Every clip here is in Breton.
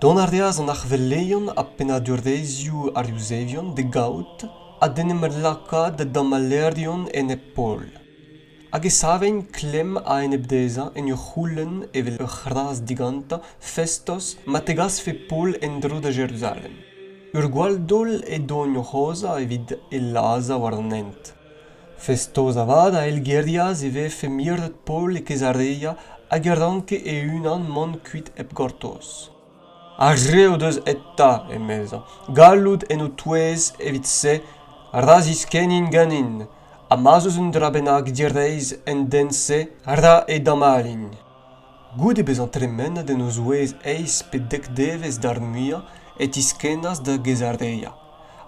Dont a reas an arvelerion ha pennadurezhioù ar Yuzevion d'e gaout ha d'en em lakaat da damallerion enep-pol, hag e savent klemm a-enep dezhañ en ur c'houlenn evel ur c'hras digantañ festos ma tegasfe Paol en-dro da Jeruzalem. Ur gwall-daol eo doniañ o c'hozhañ evit e lazhañ war an hent. Festoz avat a eilgerias e vefe miret Paol e Kezarea hag e ranke e-unan mont kuit hep gortoz. Ar re o deus eta, emezañ, galloud en ho touez evit-se ra ziskennint ganin, ha ma'z eus un dra bennak direizh en den-se, ra edamalin. Goude bezañ tremenet en o zouez eizh pe dek devezh d'ar muiañ e tiskennas da Gaesareia,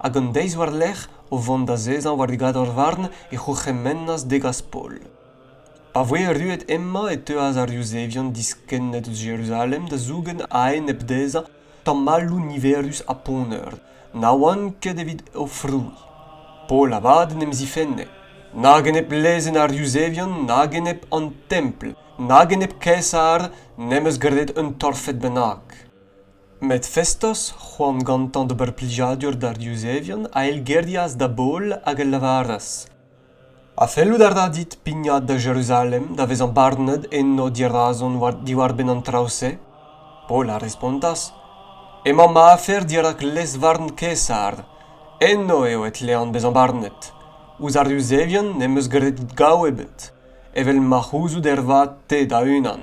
hag an deiz war-lerc'h, o vont azezañ war gador-varn, e c'hourc'hemennas degas Paol. Pa voe erruet hemañ e teuas ar Yuzevion diskennet eus Jeruzalem da zougen a-enep dezhañ tamalloù niverus ha poneur na oant ket evit o frouezh. Paol avat en em zifenne, nag enep lezenn ar Yuzevion nag enep an Templ, Nag enep Kaesar n'em eus graet un torfed bennak. Met Festos, c'hoant gantañ d'ober plijadur d'ar Yuzevion, a eilgerias da Baol hag a lavaras Ha fellout a ra dit pignat da Jeruzalem da vezañ barnet eno dirazon diwar-benn an traoù-se? Paol a respontas Emañ ma afer dirak lez-varn Kaesar. Eno eo e tlean bezañ barnet. Ouzh ar Yuzevion n'em eus graet gaou ebet. evel ma c'houzout ervat te da-unan.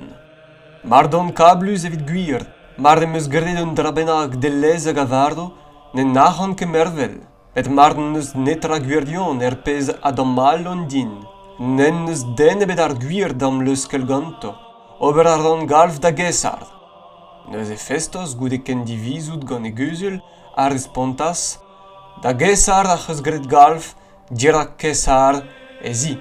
Mar don kablus evit gwir, mar em eus graet un dra bennak dellez hag a vardo, ne nac'han ket mervel, met mar n'eus netra gwirion er pezh a damallon din, n'en eus den ebet ar gwir da'm leuskel ganto. Ober a ran galv da Gesard. Neuze Festos, goude kendivizout gant e guzul, a respontas Da Gesard ac'h eus graet galv Dirak Kaesar ez i.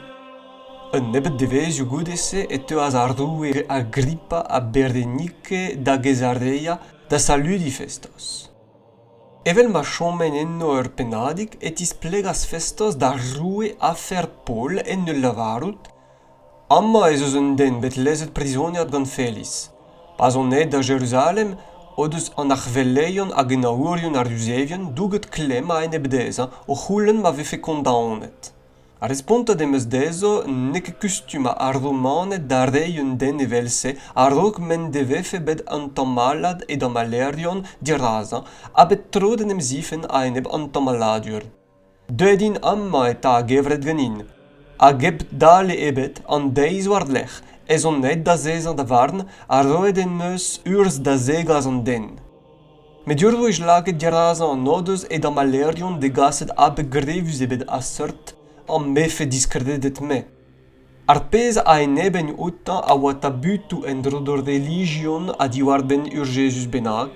Un nebeud devezhioù goude-se e teuas ar roue Agrippa ha Bernike da Gezarea da saludiñ Festos. Evel ma chomen eno ur pennadig e tisplegas Festos d'ar roue afer Paol en ul lavarout Amañ ez eus un den bet lezet prizoniad gant Felis. Pa 'z on aet da Jeruzalem o deus an arc'heveleion hag henaourien ar Yuzevien douget klemm a-enep dezhañ o c'houlenn ma vefe kondaonet. Ar respontet em eus dezho n'eo ket kustum ar Romaned da reiñ un den evel-se a-raok m'en devefe bet an tamallad e damallerion dirazañ ha bet tro d'en em zifenn a-enep an tamalladur. Deuet int amañ eta a-gevret ganin, hag hep dale ebet an deiz war-lerc'h ez on aet d'azezañ da varn ha roet em eus urzh da zegas an den. Met ur wech lakaet dirazañ an odoz e damallerion degaset abeg grevus ebet a-seurt am befe diskrediet-me. Ar pezh a enebenn outañ a oa tabutoù en-dro d'hor relijion ha diwar-benn ur Jezuz bennak.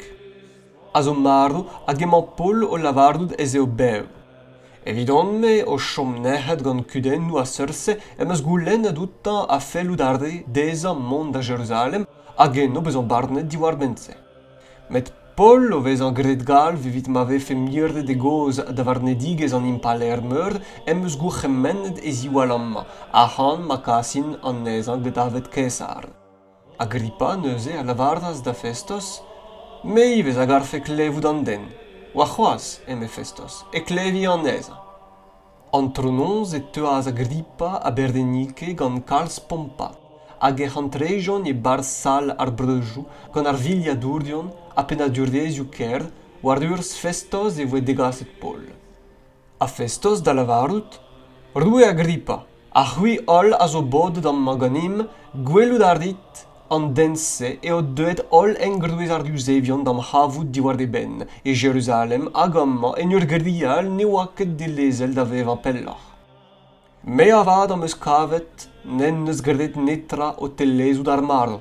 a zo marv hag emañ Paol o lavarout ez eo bev. Evidon-me, o chom nec'het gant kudennoù a-seurt-se, em eus goulennet outañ ha fellout a re dezhañ mont da Jeruzalem hag eno bezañ barnet diwar-benn-se. Met Paol o vezañ graet galv evit ma vefe miret e gozh da varnedigezh an impalaer-meur em eus gourc'hemennet e ziwall amañ, ac'han ma kasin anezhañ da davet Kaesar. Agrippa neuze a lavaras da Festos, Me ivez a garfe klevout an den, warc'hoazh, eme Festos, e klevi anezhañ. Antronoz e teuas Agrippa ha Berdennike gant kalz pompad, hag ec'h antrejont e-barzh sal ar breujoù gant ar vilhadourion ha pennadurvezhioù-kêr, war urzh Festos e voe degaset Paol. Ha Festos da lavarout, Roue Agripa, ha c'hwi holl a zo bodet amañ ganemp, gwelout a rit, an den-se eo deuet holl engroez ar Yuzevion d'am c'havout diwar e benn, e Jeruzalem hag amañ en ur grial ne oa ket dilezel da vevañ pelloc'h. Me avat am eus kavet n'en deus graet netra o tellezout ar marv,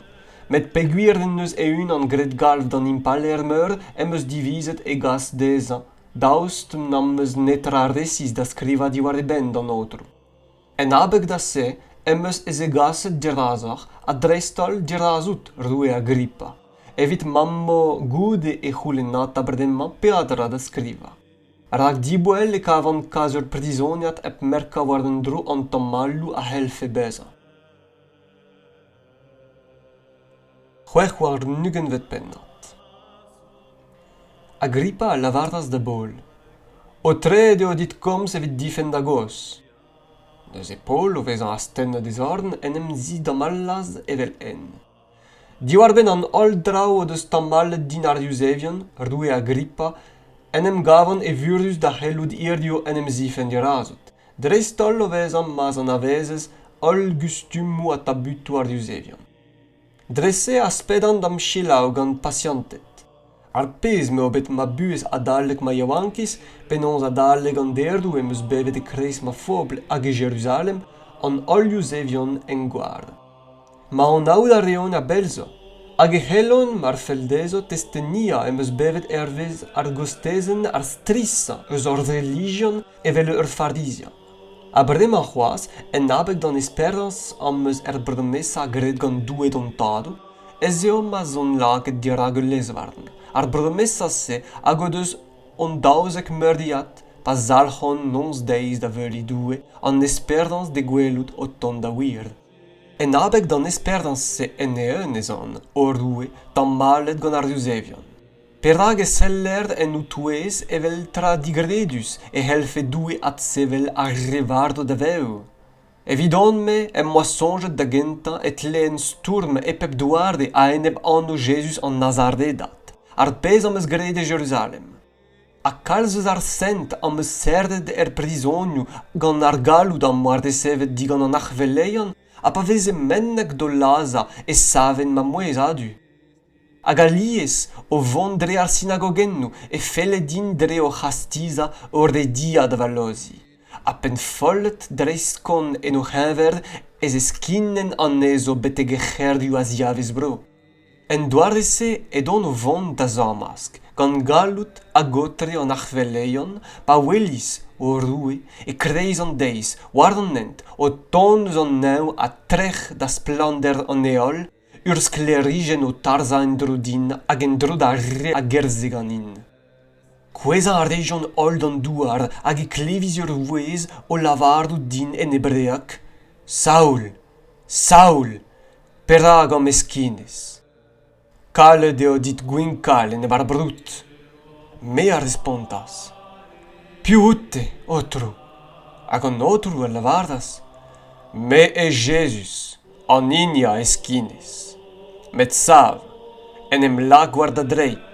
met peogwir en deus e-unan graet galv d'an impalaer-meur em eus divizet e gas dezhañ, daoust n'am eus netra resis da skrivañ diwar e benn d'an aotrou. En abeg da se em eus zegaset dirazoc'h ha dreist-holl dirazout roue Agrippa, evit ma 'm bo goude e c'houlennata bremañ peadra da skrivañ. rak diboell e kavan kas ur prizoniad hep merkañ war un dro an tamalloù a c'hellfe bezañ. C'hwec'h warn-ugentvet pennad Agrippa a lavaras da Baol Aotreet eo dit komz evit difenn da gozh. Neuze Paol, o vezañ astennet e zorn, en em zidamallas evel-henn. Diwar-benn an holl draoù o deus tamallet din ar Yuzevion, roue Agrippa, en em gavan evurus da c'hellout hiziv en em zifenn dirazot, dreist-holl o vezañ ma'z anavezez holl gustumoù ha tabutoù ar Yuzevion. Dre-se aspedan da'm selaou gant pasianted. ar pezh m'eo bet ma buhez adalek ma yaouankiz penaos adalek an derdoù em eus bevet e-kreiz ma fobl hag e Jeruzalem an holl Yuzevion en gward. Ma anaout a reont a-bell zo, hag e c'hellont, mar fell dezho, testeniañ em eus bevet hervez ar gostezenn ar strizhañ eus hor relijion evel ur farizian. Ha bremañ c'hoazh, en abeg d'an esperañs am eus er bromesa graet gant Doue d'hon Tadoù, ez eo ma'z on lakaet dirak ul lezvarn. Ar bromesa-se hag o deus hon daouzek meuriad pa zalc'hont noz-deiz da veuriñ Doue an esperañs d'e gwelout o tont da wir. En abeg d'an esperañs-se en-eeun ez on, o Roue, tamallet gant ar Yuzevion. Perak e seller en ho touez evel tra digredus e c'hellfe Doue adsevel ar re varv da vev? Evidon-me em boa soñjet da gentañ e tleen stourm e pep doare a-enep anv Jezuz an Nazaredat, ar pezh am eus graet e Jeruzalem. Ha kalz eus ar sent am eus serret er prizonioù gant ar galloud am boa resevet digant an arc'heveleion ha pa veze mennek d'o lazhañ e saven ma mouezh a-du. hag alies o vont dre ar sinagogennoù e felle din dre o c'hastizañ o rediañ da vallozhiñ ha pennfollet dreist-kont en o c'heñver ez eskinen anezho betek e c'hêrioù a-ziavez-bro. En doare-se edon o vont da zañmask gant galloud hag-aotre an arc'hveleion pa welis o roue e-kreiz an deiz war an hent o tont eus an neñv ha trec'h da splannder an heol Ur sklêrijenn o tarzhañ en-dro din hag en-dro d'ar re a gerzhe ganin. Kouezhañ a rejont holl d'an douar hag e klevis ur vouezh o lavarout din en hebreeg Saul, Saul, perak ho meskinez? Kalet eo dit gwinkañ lenn va broud. Me a respontas Piv out-te, Aotrou? Hag an Aotrou a lavaras Me eo Jezuz. an hini a heskinez. Met sav, en em lak war da dreid,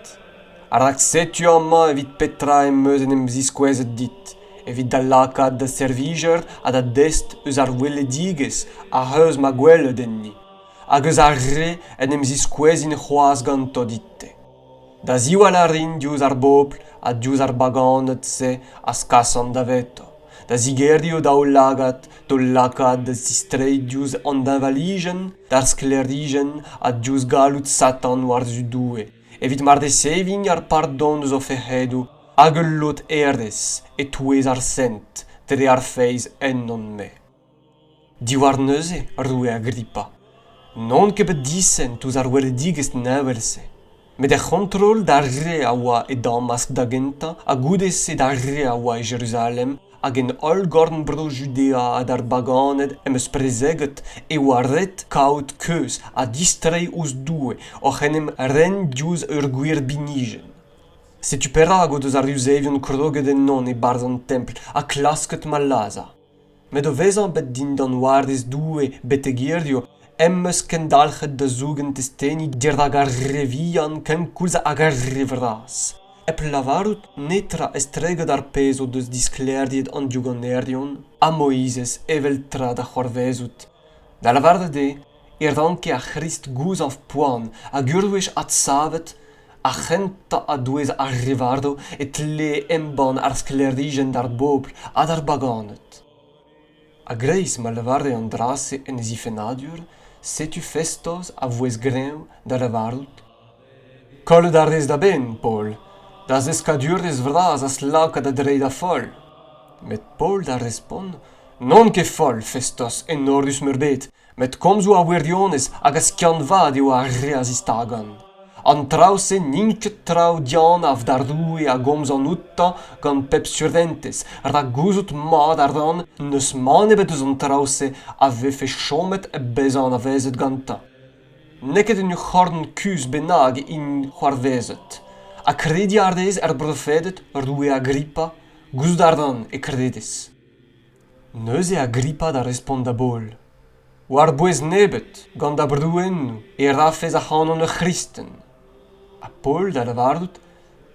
rak setu amañ evit petra em eus en em ziskouezet dit, evit da lakaat da servijer ha da dest eus ar weledigezh ac'h eus ma gwelet enni, hag eus ar re en em ziskouezin c'hoazh ganto dit-te. Da ziwall a rin diouzh ar bobl ha diouzh ar baganed-se az kasan davetañ da zigerioù daoulagad d'hol lakaat da zistreiñ diouzh an deñvalijenn d'ar sklêrijenn ha diouzh galloud Satan war-zu Doue evit ma reseviñ ar pardon eus o fec'hedoù hag ul lod hêrezh e-touez ar sent dre ar feiz ennon-me. Diwar neuze, roue Agrippa, n'on ket bet disent ouzh ar weledigezh neñvel-se, met er c'hontrol d'ar re a oa e Damask da gentañ ha goude-se d'ar re a oa e Jeruzalem hag en holl gorn-bro Judea ha d'ar baganed em eus prezeget e oa ret kaout keuz ha distreiñ ouzh Doue oc'h en em ren diouzh ur gwir binijenn. Setu perak o deus ar Yuzevion kroget ennon e-barzh an templ ha klasket ma lazhañ. met o vezañ bet dindan warez Doue betek hiziv em eus kendalc'het da zougen testeni dirak ar re vihan kenkoulz hag ar re vras hep lavarout netra estreget ar pezh o deus disklêriet an diougannerion ha Moizez evel tra da c'hoarvezout da lavaret eo e ranke ar C'hrist gouzañv poan hag ur wech adsavet ar c'hentañ a-douez ar re varv e tlee embann ar sklêrijenn d'ar bobl ha d'ar baganed. A-greiz ma lavare an dra-se en e zifennadur, setu Festos a vouezh greñv da lavarout Kollet a rez da benn, Paol, da zeskadurezh vras az laka da dreiñ da foll. Met Paol da respont N'on ket foll, Festos, enorus-meurbet. Met komzoù ar wirionez hag a skiant-vat eo ar re a zistagont. An traoù-se n'int ket traoù dianav d'ar roue a gomzan outañ gant pep surentez, rak gouzout mat a ran n'eus mann ebet eus an traoù-se a vefe chomet bezañ anavezet gantañ. N'eo ket un c'horn kuzh bennak int c'hoarvezet. Ha krediñ a rez er brofeded, roue Agrippa? Gouzout a ran e kredez. Neuze Agripa da respont da Bol. War-bouez nebeut, gant da brouennoù, e rafes ac'hanon ur c'hristen. Ha Pol da lavarout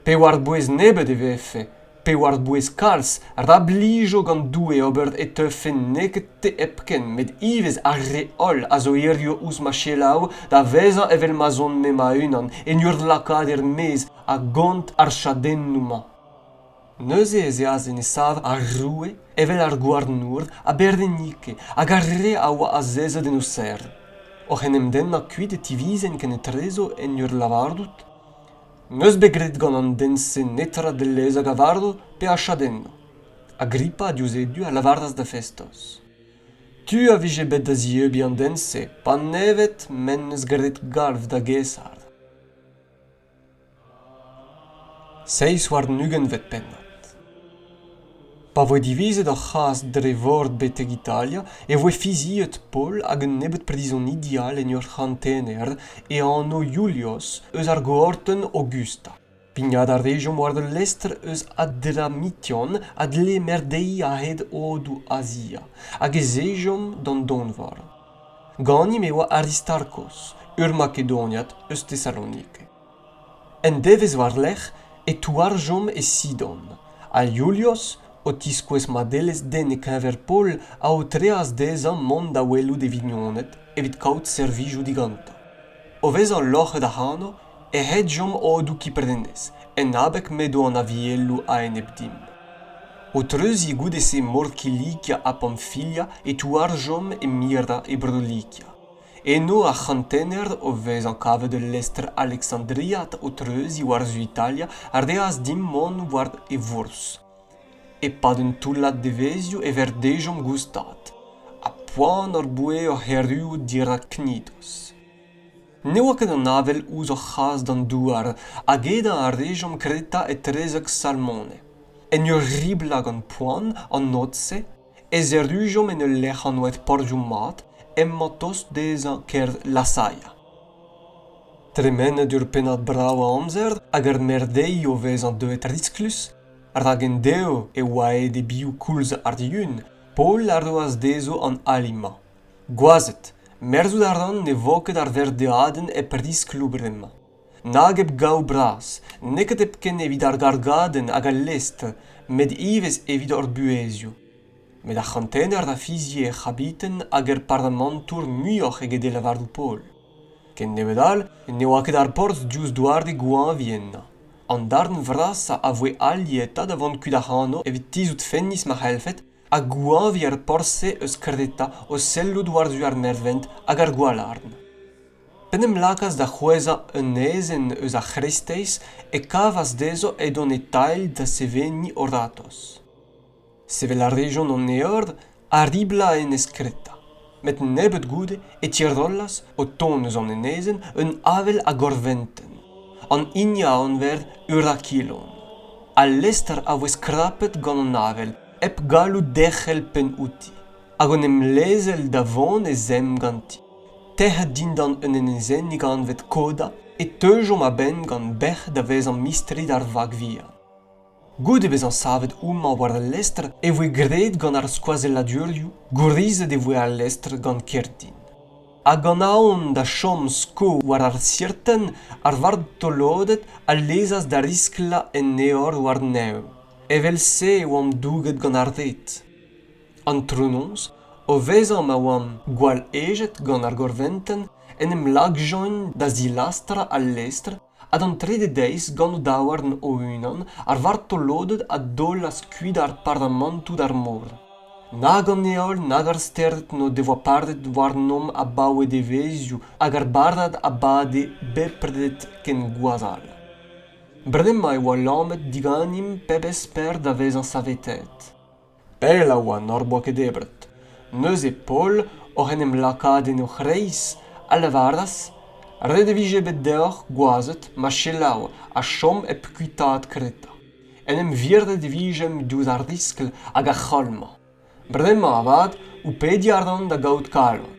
pe war-bouez nebeut e vefe, pe war-bouez kalz, ra blijo gant Doue ober e teufe n'eo ket te hepken, met ivez ar re holl a zo hiziv ouzh ma selaou da vezañ evel ma'z on-me ma-unan, en ur lakaat er-maez a gont ar chadennoù-mañ. Neuze ez eas en e sav ar roue evel ar gouarnour ha bervenike hag ar re a oa azezet en o serr. Oc'h en em dennañ kuit e tivizent kenetrezo en ur lavarout N'eus bet graet gant an den-se netra dellez a gavardo pe a chadenno. Agrippa, diouzh e du, a lavaras da Festos Tu a vije bet da zieubiñ an den-se panevet m'en deus graet galv da Gaesar. Seizh warn-ugentvet pennad Pa voe divizet ar c'has dre vor betek Italia e voe fiziet Paul hag un nebeud prizonidi all en ur c'hantener e anv Iulios eus ar goatenn Augusta. Pignat a rejomp war ul lestr eus Adramition a dle merdeiñ a-hed odoù Azia, hag ez ejomp d'an donvor. Ganimp e oa Aristarkos, ur Makedoniad eus Tesalonike. Un devezh war-lerc'h e touarjomp e Sidon, ha Iulios, o tiskouez madelezh den e-keñver Paol, a aotreas dezhañ mont da welout e vignoned evit kaout servijoù digantañ. O vezañ loc'het ac'hano e hetjomp odoù Kiprenez en abeg m'edo an avieloù a-enep dimp. O treuziñ goude-se Mor Kilikia ha Pamfilia e touarjomp e mirañ e Bro-Likia. Eno ar c'hantener o vezañ kavet ul lestr alexandriat o treuziñ war-zu Italia a reas dimp mont war e vourzh. E-pad un toullad devezhioù e verdejomp goustad, ha poan hor boa oc'h erruout dirak Knidos. Ne oa ket an avel ouzh hor c'has d'an douar hag edañ a rejomp kretañ etrezek Salmone. En ur riblañ gant poan an noz-se ez errujomp en ul lec'h anvet Porzhioù-mat emañ tost dezhañ kêr Lasaia. Tremenet ur pennad brav a amzer hag ur merdeiñ o vezañ deuet risklus, rak endeo e oa aet e-bioù koulz ar Yun, Paol a roas dezho an ali-mañ. Gwazed, merzout a ran ne vo ket ar verdeadenn hep riskloù bremañ. Nag hep gaou bras, neket hepken evit ar gargadenn hag al lestr, met ivez evit hor buhezioù. Met ar c'hantener a fizie er c'habiten hag er paramantour muioc'h eget e lavaroù Paol. Ken nebeut all ne oa ket ar porzh diouzh doare goañvi ennañ. An darn vrasañ a voe aliet ha da vont kuit ac'hano evit tizhout fennis ma c'hellfed ha gouañviñ ar porzh-se eus kredetañ o sellout war-zu ar nervent hag ar gwalarn. P'en em lakaas da c'hwezhañ un ezen eus ar c'hreisteiz e kavas dezho edont e-tailh da seveniñ o ratozh. Sevel a rejont an eor a riblañ enez Kreta. met nebeut goude e tirollas o tont eus an enezenn un avel a gorventenn an hini a anver Eurakilon. Al lestr a voe skrapet gant an avel hep gallout derc'hel penn outi hag en em lezel da vont e zemm ganti. Tec'het dindan un enezennig anvet Koda, e teujomp a-benn gant bec'h da vezañ mistri d'ar vag vihan. Goude bezañ savet homañ war al lestr e voe graet gant ar skoazelladurioù, gourizet e voe al lestr gant kerdin. Ha gant aon da chom sko war ar sirtenn, ar vartoloded a lezas da risklañ en eor war-nev. Evel-se e oamp douget gant ar red. Antronoz, o vezañ ma oamp gwall ejet gant ar gorventenn, en em lakjont da zilastrañ al lestr ha d'an trede deiz gant o daouarn o-unan ar vartoloded a daolas kuit ar paramantoù d'ar mor nag an heol nag ar stered n'o devoa padet warnomp abaoe devezhioù hag ar badad a bade bepred ken gwazhall bremañ e oa lamet diganimp pebezh per da vezañ saveteet Pell a oa n'hor boa ket debret. Neuze Paol, oc'h en em lakaat en o c'hreiz, a lavaras ret e vije bet deoc'h gwazed ma selaou ha chom hep kuitaat Kreta. En em virdet e vijemp diouzh ar riskl hag ar c'holm-mañ. Bremañ avat, ho pediñ a ran da gaout kalon,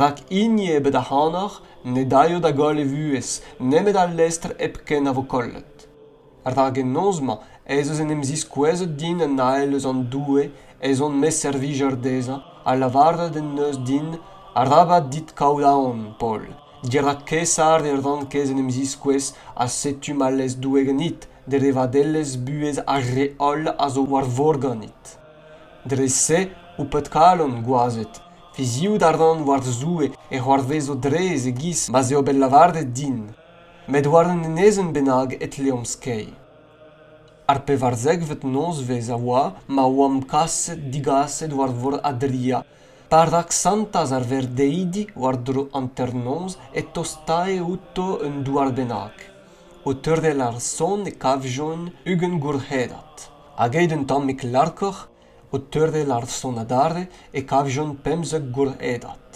rak hini ebet ac'hanoc'h ne daio da goll e vuhez nemet al lestr hepken a vo kollet. rak en noz-mañ ez eus en em ziskouezet din an ael eus an doue ez on ma servijer dezhañ ha lavaret en deus din arabat dit kaout aon paol dirak Kaesar e ran kaezh en em ziskouez ha setu ma lez Doue ganit dre vadelezh buhez ar re holl a zo war vor ganit dre-se ho pet-kalon gwazed fiziout a ran war Zoue e c'hoarvezo drez e-giz ma 'z eo bet lavaret din met war un enezenn bennak e tleomp skeiñ. ar pevarzekvet nozvezh a oa ma oamp kaset digaset war vor adria pa raksantas ar verdeidi war-dro hanternoz e tostae outo un douar bennak o teurel ar son e kavjont ugent gourc'hedad hag eet un tammig larkoc'h O teurel ar son adarre e kavjont pemzek gourc'hedad.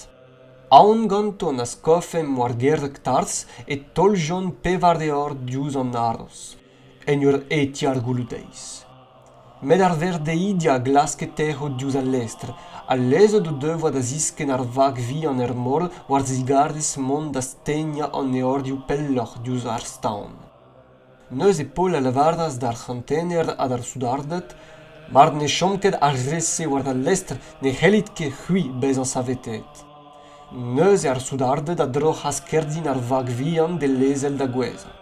Aon ganton a skofemp war gerreg tarzh e taoljont pevar levr diouzh an haroz, en ur hetiñ ar gouloù-deiz. Met ar verdeidi a glaske tec'hout diouzh al lestr, ha lezet o devoa da ziskenn ar vag vihan er mor war zigarez mont da stegnañ an eorioù pelloc'h diouzh ar staon. Neuze Paol a lavaras d'ar c'hantener ha d'ar soudarded, Mar ne chom ket ar re-se war al lestr ne c'hellit ket c'hwi bezañ saveteet. Neuze ar soudarded a droc'has kerdin ar vag vihan d'e lezel da gouezhañ.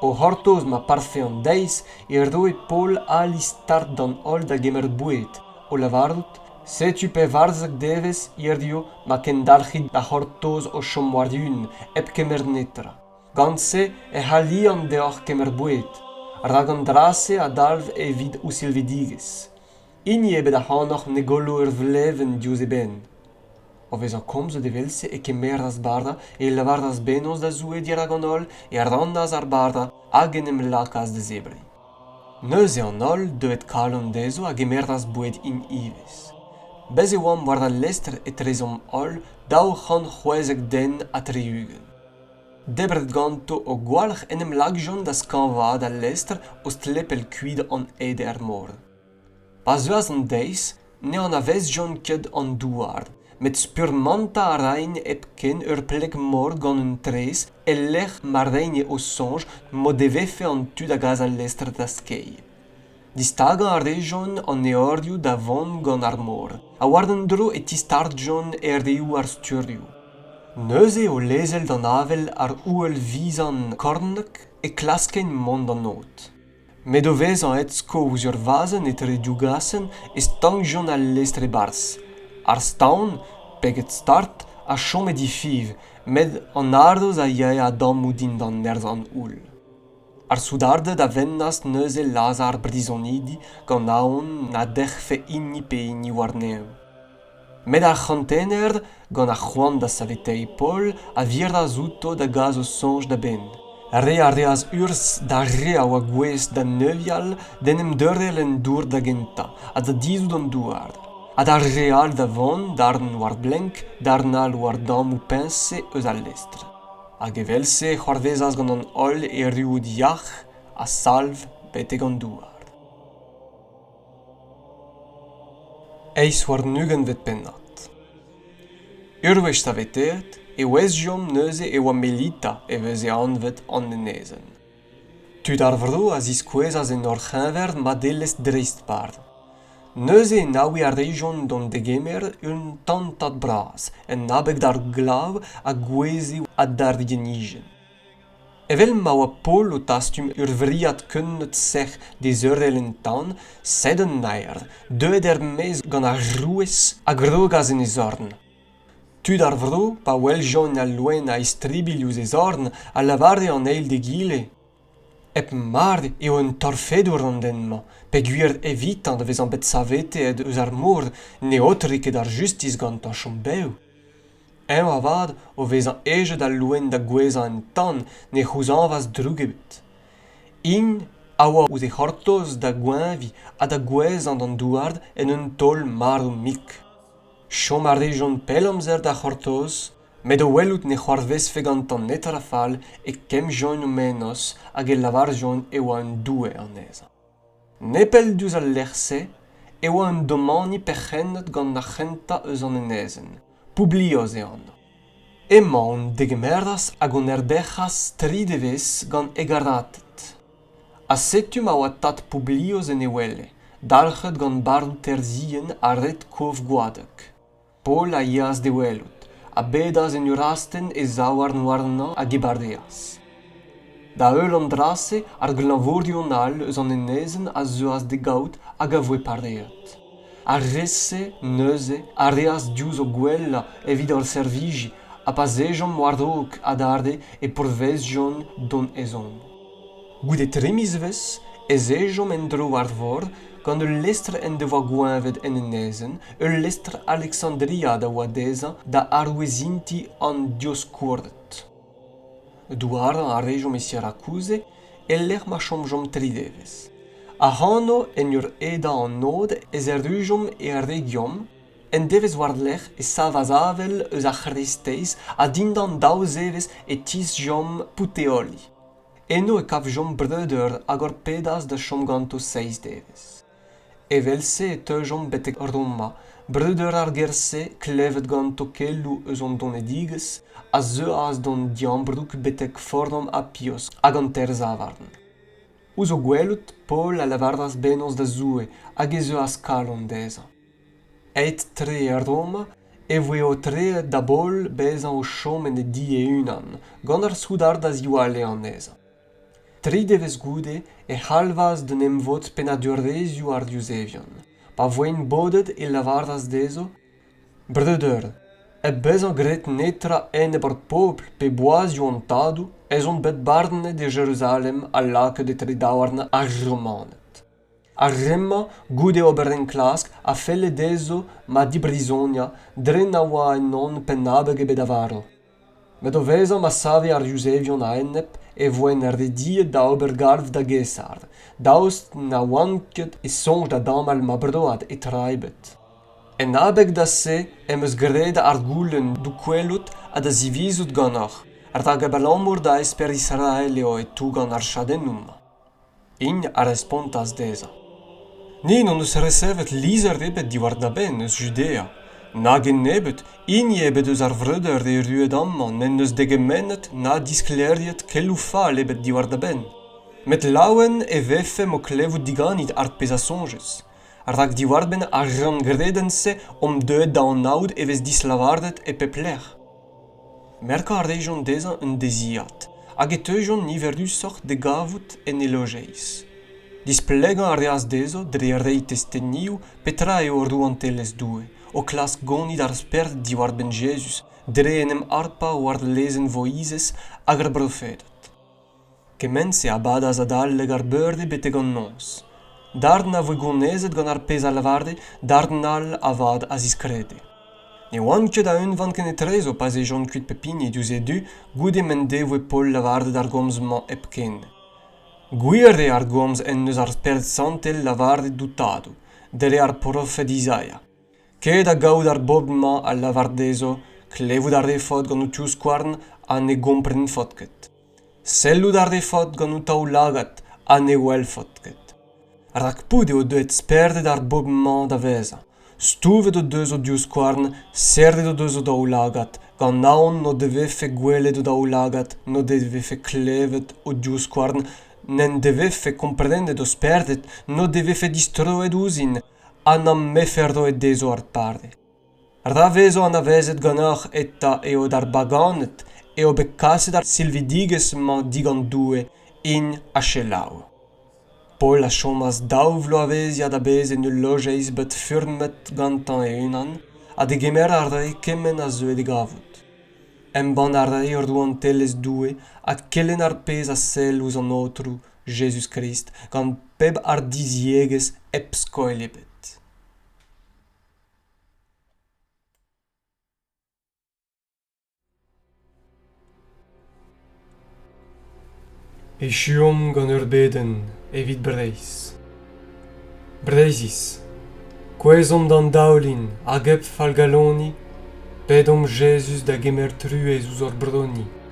O c'hortoz ma parfe an deiz e roe Paol ali start d'an holl da gemer boued, o lavarout, Setu pevarzek devezh hiziv ma kendalc'hit da c'hortoz o chom war-eeun hep kemer netra. Gant-se ec'h alian deoc'h kemer boued, rak an dra-se a dalv evit ho silvidigezh. Hini ebet ac'hanoc'h ne gollo ur vlevenn diouzh e benn. O vezañ komzet evel-se e kemeras bara, e lavaras bennozh da Zoue dirak an holl, e rannas ar bara hag en em lakaas da zebriñ. Neuze an holl, deuet kalon dezho, a gemeras boued int ivez. Bez' e oamp war al lestr etrezomp holl daou c'hant c'hwezek den ha tri-ugent. debret ganto o gwalc'h en em lakjont da skañvaat al lestr o stlepel kuit an ede er mor pa zeuas an deiz ne anavezjont ket an douar met spurmantañ a raent hepken ur pleg-mor gant un traezh e-lec'h ma reigne o soñj m'o devefe an tu da gas al lestr da skeiñ Distagañ a rejont an eorioù da vont gant ar mor ha war un dro e tistartjont erreoù ar sturioù. Neuze, o lezel d'an avel ar ouel-vizan kornek, e klaskent mont d'an od. Met o vezañ aet sko ouzh ur vazenn etre div gasenn e stankjont al lestr e-barzh. Ar staon, peget start, a chome difiñv, met an haroz a yae a-dammoù dindan nerzh an houll. ar soudarded a vennas neuze lazhañ ar brizonidi gant aon na dec'hfe hini pe hini warnev met ar c'hantener gant ar c'hoant da saveteiñ paol a virdas outo da gas o soñj da-benn re a reas urzh d'ar re a oa gouest da neuial d'en em deurel en dour da gentañ ha da dizhout an douar ha d'ar re all da vont darn war blenk darn all war dammoù peñse eus al lestr hag evel-se e c'hoarvezas gant an holl erruout yac'h ha salv betek an douar eizh warn-ugentvet pennad ur wech saveteet e ouezjomp neuze e oa melita e veze anvet an enezenn Tud ar vro a ziskouezas en hor c'heñver madelezh dreist-par. Neuze enaouiñ a rejont d'hon degemer un tantad bras, en abeg d'ar glav a gouezhe ha d'ar rienijenn. Evel ma oa Paol o tastum ur vriad keuneud sec'h dezeurel en tan, sed an naer, deuet er-maez gant ar rouez, a grogas en e zorn. tud ar vro pa weljont al loen a-istribilh ouzh e zorn a lavare an eil d'egile hep mard eo un torfedour an den-mañ peogwir evitañ da vezañ bet savetet eus ar mor ne aotre ket ar justis gantañ chom bev eñ avat o vezañ hejet al loen da gouezhañ en tan ne c'houzañvas droug ebet int a oa ouzh e c'hortoz da goeñviñ ha da gouezhañ d'an douar en un taol marv-mik Chom a rejont pell amzer da c'hortoz met o welout ne c'hoarvezfe gantañ netra fall e kemmjont o menoz hag e lavarjont e oa un doue anezhañ. Nepell diouzh al lec'h-se e oa un domani perc'hennet gant ar c'hentañ eus an enezenn, Publios e anv. Emañ hon degemeras hag hon erberc'has tri devezh gant hegarated. ha setu ma oa tad Publius en e wele, dalc'het gant barn terzhienn ha red kof gwadek. Paol a yeas d'e welout, a bedas en ur astenn e zaouarn warnañ hag e badeas. Da-heul an dra-se, ar glañvorion all eus an enezenn a zeuas d'e gaout hag a voe pareet. Ar re-se, neuze, a reas diouzh o gwellañ evit hor servijiñ, ha pa 'z ejomp war-raok adarre e pourvezjont d'hon ezhomm. Goude tri mizvezh ez ejomp en-dro ar vor gant ul lestr en devoa goeñvet en enezenn, ul lestr Alexandria da oa dezhañ da arouezintiñ an dioskourted. Douarañ a rejomp e Sirakouse e-lec'h ma chomjomp tri devezh. Ac'hano, en ur edañ an od, ez errujomp er region. Un devezh war-lerc'h e savas avel eus ar c'hreisteiz ha dindan daou zevezh e tisjomp Puteoli. Eno e kavjomp breudeur hag hor pedas da chom ganto seizh devezh. Evel-se e teujomp betek Roma, breudeur ar gêr-se klevet ganto keloù eus hon donedigezh, a zeuas d'hon diambroug betek Forum Apios hag an Terzavarn. Ouzh o gwelout, Paol a lavaras bennozh da Zoue hag ez euas kalon dezhañ. aet-tre e Roma e voe aotreet da-boll bezañ o chom en e di e-unan gant ar soudard a ziwalle anezhañ. Tri devezh goude e c'halvas d'un emvod pennadurezioù ar yuzevion. Pa voent bodet e lavaras dezho Breudeur, hep bezañ graet netra enep ar pobl pe boazioù an tadoù ez on bet barnet e Jeruzalem ha lakaet etre daouarn ar Romaned. Ar re-mañ, goude ober enklask, a felle dezho ma dibrizoniañ dre na oa ennon penn-abeg ebet a varv. Met o vezañ ma save ar Yuzevion a-enep e voent rediet da ober galv da Gaesar, daoust na oant ket e soñj da damall ma broad e tra ebet. En abeg da se em eus graet ar goulenn d'ho gwelout ha da zivizout ganeoc'h, rak abalamour da esper Israel eo e tougan ar chadennoù-mañ. Ing a respontas dezhañ, Ni n'hon eus resevet lizher ebet diwar da benn eus Judea, na gennebeut hini ebet eus ar vreudeur erruet amañ n'en deus degemennet na disklêriet keloù fall ebet diwar da benn. Met laouen e vefemp o klevout diganit ar pezh a soñjez, rak diwar-benn ar ranngredenn-se omp deuet da anaout e vez dislavaret e pep lec'h. Merkañ a rejont dezhañ un deziad hag e teujont niverusoc'h da gavout en e lojeiz. Displegañ a reas dezho dre reiñ testenioù petra eo Rouantelezh Doue, o klask gonit ar spered diwar-benn Jezuz dre en em harpañ war lezenn Voizez hag ar brofeded. Kement-se a badas adalek ar beurdi betek an noz. Darn a voe gounezet gant ar pezh a lavare, darn all avat a ziskrede. Ne oant ket a unvan kenetrezo pa 'z ejont kuit pep hini diouzh e du goude m'en devoe Paol lavaret ar gomz-mañ hepken. Gwir eo ar gomz en deus ar Spered Santel lavaret d'ho Tadou, dre ar profed Izaia. Ket da gaout ar bobl-mañ a lavar dezho klevout a refot gant ho tivskouarn ha ne gomprenfot ket. Sellout a refot gant ho taoulagad ha ne welfot ket. Rakpout eo deuet spered ar bobl-mañ da vezañ. Stouvet o deus o divskouarn, serret o deus o daoulagad, gant aon n'o devefe gwelet o daoulagad, n'o devefe klevet o divskouarn, n'en devefe komprenet o spered, n'o devefe distroet ouzhin, ha n'am befe roet dezho ar pare. Ra vezo anavezet ganeoc'h eta eo d'ar baganed eo bet kaset ar silvidigezh-mañ digant Doue int ha selaou. Paol a chomas daou vloavezhiad a-bezh en ul lojeiz bet furmet gantañ e-unan ha degemer a rae kement a zeue d'e gavout. Embann a rae rouantelezh Doue ha kelenn ar pezh a sell ouzh an Aotrou Jezuz-Krist gant pep hardiziegezh hep skoilh ebet. Echuomp gant ur bedenn evit Breizh. Breizhiz, kouezhomp d'an daoulin hag hep fallgaloniñ, pedomp Jezuz da gemer truez ouzh hor broni.